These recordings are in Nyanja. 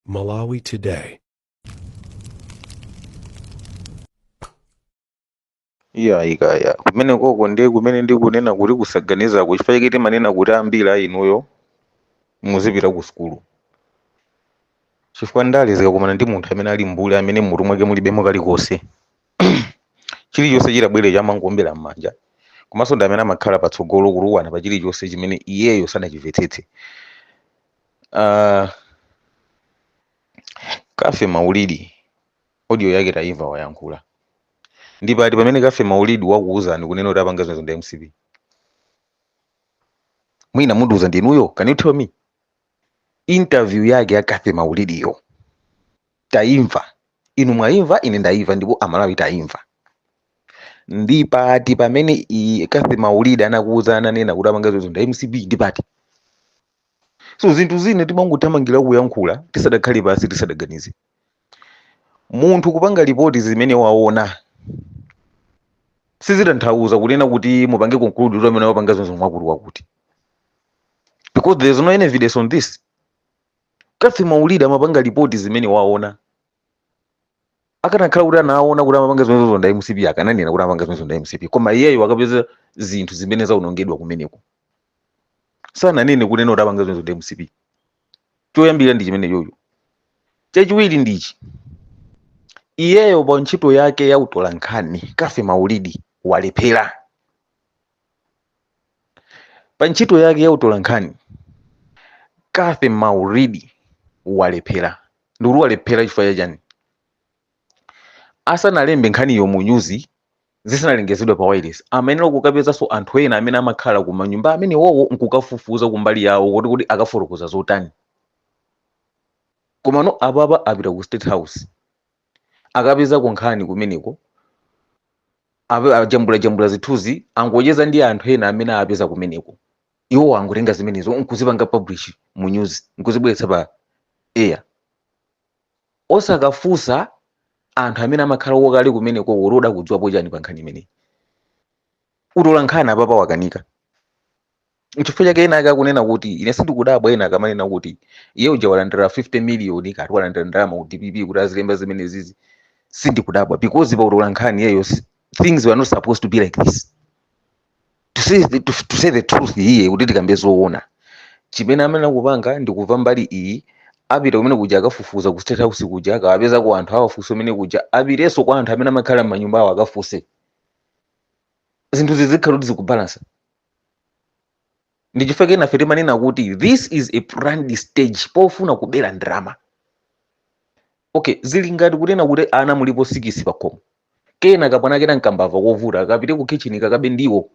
Malawi Today. iya ikaya kumene koko ndiye kumene ndikunena kuti kusaganizaku chifukwa chake timanena kuti ambiri a inuyo muzipita ku sukulu chifukwa ndale zikakumana ndi munthu amene ali mbuli amene mutu mwake mulibemo kalikonse chilichonse chitabwere chamangowombera m'manja komanso ndi amene amakhala patsogolo kutukwana pa chilichonse chimene iyeyo sanachimvetsetse uh, kathy maulidi audio yake tayimva wayankhula ndi pati pamene kathy maulidi wakuwuzani kunena kuti apanga zimenezo ndi a mcp mwina mundiwuza ndinuyo can you tell me interview yake ya kathy maulidiyo taimva inu mwaimva ine ndaimva ndipo amalawi taimva ndi pati pamene kathy maulidi anakuuza ananena kuti apanga zimenezo ndi a mcp ndi pati so zinthu zina timangothamangira kuyankhula tisadakhale pansi tisadaganize munthu kupanga lipoti zimene waona sizitanthauza kunena kuti mupange conclude kuti amene wapanga zimenezo ndi wakuti wakuti because there is no any evidence on this kathy maulidi amapanga lipoti zimene waona akanakhala kuti anaona kuti amapanga zimene zozo ndi a mcp akananena kuti amapanga zimene zozo ndi a mcp koma iyeyo akapeza zinthu zimene zaonongedwa kumeneko sananene kunena kuti apanga zimene zozo ndi a mcp choyambira ndi chimene chocho chachiwiri ndichi iyeyo pa ntchito yake ya utolankhani kathy maulidi walephera pa ntchito yake ya utolankhani kathy maulidi walephera ndikuti walephera chifukwa chachani asanalembe nkhaniyo mu nyuzi zisanalengezedwe pa wailesi amayenera kukapezanso anthu ena amene amakhala ku manyumba amene wowo nkukafufuza kumbali yawo kuti kodi akafotokoza zotani komano apapa apita ku state house akapezako nkhani kumeneko ape- ajambulajambula zithunzi angocheza ndi anthu ena amene apeza kumeneko iwo angotenga zimenezo nkuzipanga publish mu news nkuzibweretsa pa air osakafunsa anthu amene amakhalako kale kumenekoko kuti kodi akudziwapo chani pa nkhani imeneyi utolankhani apapa wakanika nchifukwa chake enaake akunena kuti ine sindikudabwa ena akamanena kuti iye uja walandira 50 miliyoni kati walandira ndalama ku dpp kuti azilemba zimene zizi sindikudabwa because pa utolankhani iyeyo si- things were not supposed to be like this to say the, to, to say the truth here kuti tikambe zoona chimene amayenera kupanga ndi kumva mbali iyi apite kumene kuja akafufuza ku state house kuja akawapezako anthu awafunse kumene kuja apitenso kwa anthu amene amakhala m'manyumba awo akafunse zinthu zizikhala kuti zikubalansa ndi chifukwa chake nafe timanena kuti this is a planned stage pofuna kubera ndalama okay zili ngati kunena kuti ana mulipo sikisi pakhomo kena kamwana kena nkambava kovuta kapite ku kitchen kakabe ndiwo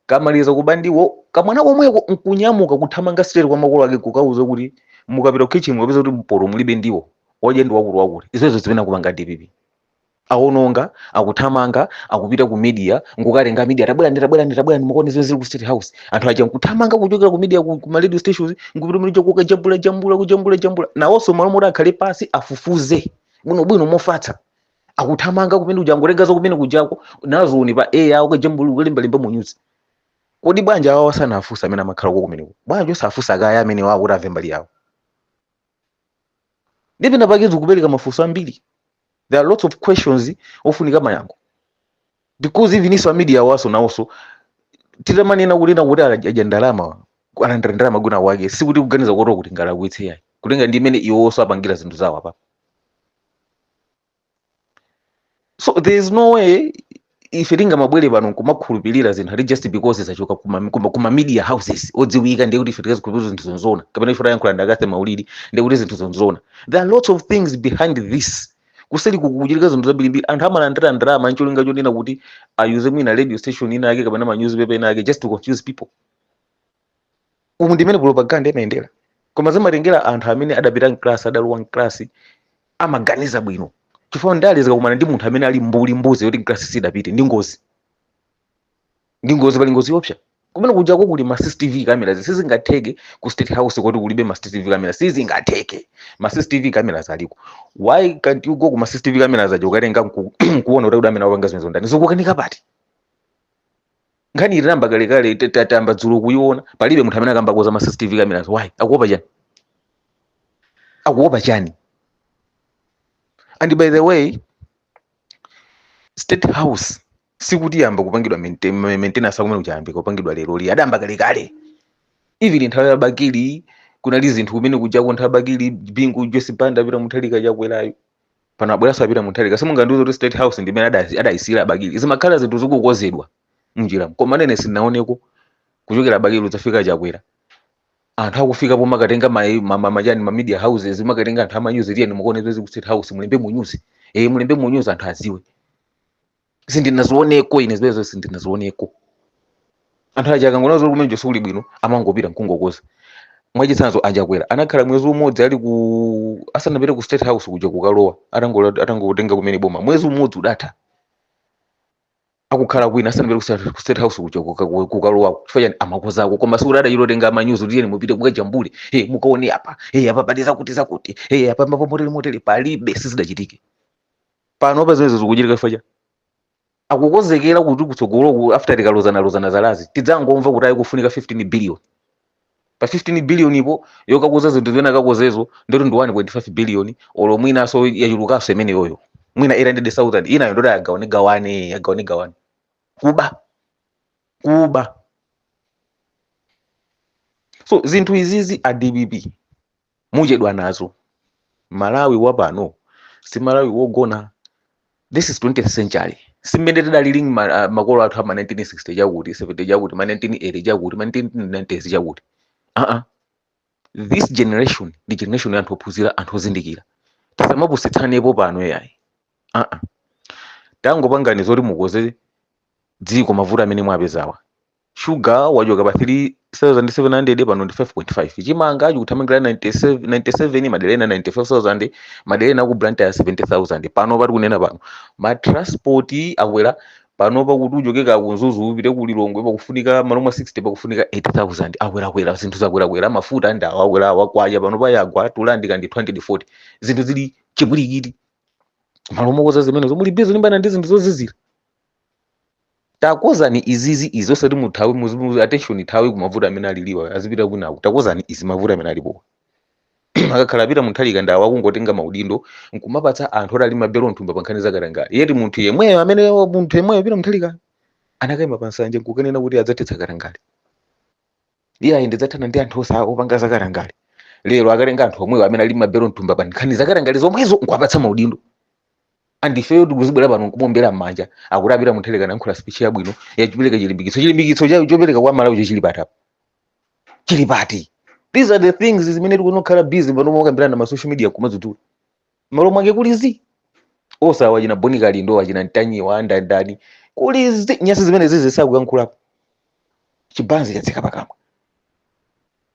kamaliza kuba ndiwo kamwana komweko nkunyamuka kuthamanga straight kwa makolo ake kukauza kuti mukapita ku kitchen mukapeza kuti mpoto mulibe ndiwo odya ndi wakulu wakulu izo nzimene akupanga dpp awononga akuthamanga akupita ku media nkukatenga media tabwerani tabwerani tabwerani mukaone zimene zili ku state house anthu aja nkuthamanga kuchokera ku media ku, ku ma radio stations nkupita muja kukajambula jambula kujambula jambula nawonso malo moti akhale pasi afufuze bwinobwino mofatsa akuthamanga kumene kuja angotenga za kumene kujako nazo pa air kukajambula kukalembalemba mu news kodi bwanji awawa sanafunse amene amakhala uko kumeneko bwanji osafunsa kaye amenewawo kuti amve mbali yawo ndi pena pake zikupereka mafunso ambiri there are lots of questions ofunika mayankho because even iwonso a media awanso nawonso titamanena kunena kuti aja ndalama alandira ndalama kwina kwake sikuti kuganiza koteroko kuti tingalakwitse yayi kutengera ndi mmene iwonso apangira zinthu zawo apa so there is no way ife tingamabwere pano nkumakhulupirira zinthu ati just because zachoka kuma, kuma, kuma media houses odziwika ndiye kuti ife tikazikhulupirire zinthu nzoona kapena ife tayankhula ndakathe maulidi ndiye kuti zinthu nzoona there are lots of things behind this kuseli kukuchitika zinthu zambirimbiri anthu amalandira ndalama ncholinga chonena kuti ayuze mwina radio station ina yake kapena ma newspaper ena ake just to confuse people umu ndi mmene propaganda imayendera koma zimatengera anthu amene adapita mklasi adalowa mklasi amaganiza bwino chifukwa ndale zikakumana ndi munthu amene ali mbuli mbuzi yoti mklasi sidapite ndi ngozi ndi ngozi pali ngozi yopsa kumene kujako kuli ma cctv cameras sizingatheke ku state house kuti kulibe ma cctv cameras sizingatheke ma cctv cameras aliko why can't you go ku ma cctv cameras aja kukatenga nku- nkuona kuti kodi amene wapanga zimenezo ndani zikukanika pati nkhani inayamba kalekale ta- ta- tayamba dzulo kuiona palibe munthu amene akukambako za ma cctv cameras why akuopa chani akuopa chani and by the way state house sikuti yayamba kupangidwa maintain- ma- maintenance akumene kuja yayambika kupangidwa leroli adayamba kalekale even nthawi ya bakili kunali zinthu kumene kujako nthawi ya bakili bingu joyce banda peter mutharika chakwerayo pano abweranso a peter mutharika simungandiuze kuti state house ndi imene adasi- adayisiyira a bakili zimakhala zinthu zikukozedwa mnjiramo koma ine sindinaoneko kuchokera a bakili kudzafika chakwera anthu akufika pomakatenga ma- ma- ma- machani ma media houses kumakatenga anthu amanyuzi tiyeni mukaone zili ku state house mulembe munyuzi eh mulembe munyuzi anthu aziwe sindinazioneko ine zimenezo sindinazioneko anthu aja akangoona zoti kumeneko sikuli bwino amangopita mkungokoza mwachitsanzo a chakwera anakhala mwezi umodzi ali ku asanapite ku state house kuja kukalowa atangola- atangotenga kumene boma mwezi umodzi udatha akukhala kwina asanapite ku state- ku state house kuja kuka- ku- kukalowako chifukwa chani amakozako koma sikuti adachitotenga amanyuzi kuti tiyeni mupite kukajambule e mukaone apa e apa pali zakuti zakuti e apa pamotele motele palibe sizidachitike panopa zimenezo zikuchitika chifukwa cha akukonzekera kuti kutsogoloku after tikalozanalozana zalazi tidzangomva kuti ayi kufunika 15 billion pa 15 billionpo yokakoza zinthu zimene akakozezo ndoti ndi 1.5 billion olo mwinaso yachulukanso imeneyoyo mwina 800000 inayo ndoti agawane gawane agawane gawane kuba kuba so zinthu izizi a dpp muchedwa nazo malawi wapano si malawi wogona this is 20th century simmene tidalili ma- ah, makolo athu ama 1960 chakuti 70 chakuti ma 1980 chakuti ma 1990s chakuti aa this generation ndi generation ya anthu ophunzira anthu ozindikira tisamapusitsanepo pano yayi aa tangopangani zoti mukoze dziko mavuto amene mwapezawa shuga wachoka pa 3700 pano ndi 5.5 chimanga chikuthamangira 97 97 madera ena 95000 madera ena ku blantyre 70000 panopa tikunena pano ma transport akwera pano pakuti uchoke ku mzuzu upite ku lilongwe pakufunika malo mwa 60 pakufunika 80000 akwerakwera zinthu zakwerakwera mafuta ndi awa akwera awa kwacha panopa yagwa tulandika ndi 240 zinthu zili chipwirikiti malo mokoza zimenezo muli busy kulimbana ndi zinthu zozizira takozani izizi izi osati muthawe muzi- muzi- attention ithawe kumavuto amene aliliwa azipita kwinaku takozani izi mavuto amene alipo akakhala a peter mutharika ndawo akungotenga maudindo nkumapatsa anthu oti ali mabelo m'thumba pa nkhani zakatangale yet munthu yemweyo amene munthu yemweyo peter mutharika anakaima pa nsanja nkukanena kuti adzathetsa katangale iye ayi ndidzathana ndi anthu ose opanga zakatangale lero akatenga anthu omwewo amene ali mabelo m'thumba pa nkhani zakatangale zomwezo nkuwapatsa maudindo and ifeyo tikuzibwera pano nkumombera m'manja akuti a peter mutharika alankhula speech yabwino yachipereka chilimbikitso chilimbikitso cha- chopereka kwa malawi chili pati apa chili pati these are the things zimene tikanakhala busy pano mokambirana ma social media kumadzudzula malo mwake kuli zi osewa achina bon kalindo achina mtanyiwa andandani kuli zi nyasi zimenezizi sakuyankhulapo chibanzi chatseka pakamwa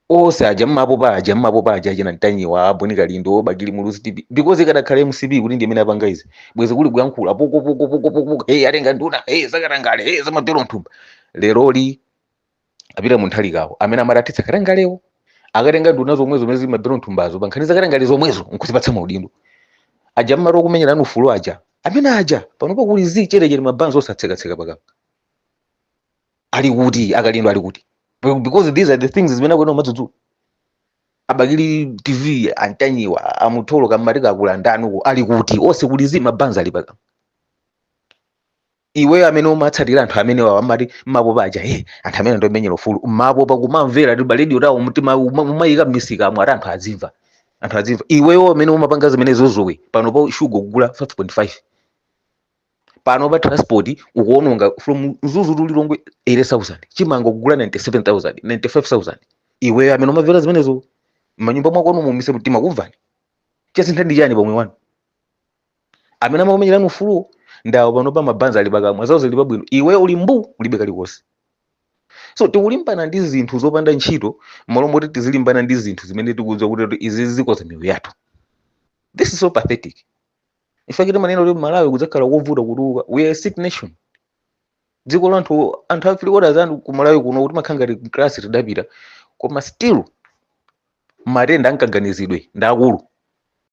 ose aja mmapopa aja mmapopa aja achina mtanyiwa a bon kalindo bakili muluzi tv because ikadakhala mcp kuti ndi imene yapanga izi bwezi kuli kuyankhula poko poko poko poko poko hey atenga nduna hey zakatangale hey zamabelo m'thumba leroli a peter mutharikawo amene amati athetsa katangalewo akatenga nduna zomwezo zomwe zili mabelo m'thumbazo pankhani zakatangale zomwezo nkuzipatsa maudindo aja mumati okumenyerani ufulu aja amene aja panopo kuli zi chetechete mabanzi osatsekatseka pakamwa ali kuti akalindo ali kuti Be- because these are the things zimene akuena umadzudzula abakili tv antanyiwa amutolo kamati kakula ndani uko ali kuti onse kuli zi mabanzi ali pakamwa iweyo amene umatsatira anthu amenewa amati mmapopa aja hey, anthu amene ndomenyera ufulu mmapopa kumamvera ti radio tawo mtima uma- umayika mmisika amwe ati anthu azimva anthu azimva iweyo amene umapanga zimenezozo iwe panopa shuga kugula 5.5 panopa transport ukuononga from mzuzu to lilongwe 80000 chimanga kugula 97000 95000 iweyo amene umamvera zimenezo mmanyumba mwakomo mumise mtima kumvani chasintha ndi chani pamoyo wanu amene amakumenyerani ufuluwo ndi awo panopa mabanzi ali pakamwa zawo zili pabwino iwe uli mbu ulibe kalikonse so tikulimbana ndi zinthu zopanda ntchito m'malo moti tizilimbana ndi zinthu zimene tikudziwa kuti kuti izi zikonza miyoyo yathu this is so pathetic in fact timanena kuti malawi kudzakhala kovuta kutukuka we are a sick nation dziko la anthu anthu a three quarters anthu ku malawi kunoko timakhala ngati klasi tidapita koma still matenda a m'kaganizidwe ndi aakulu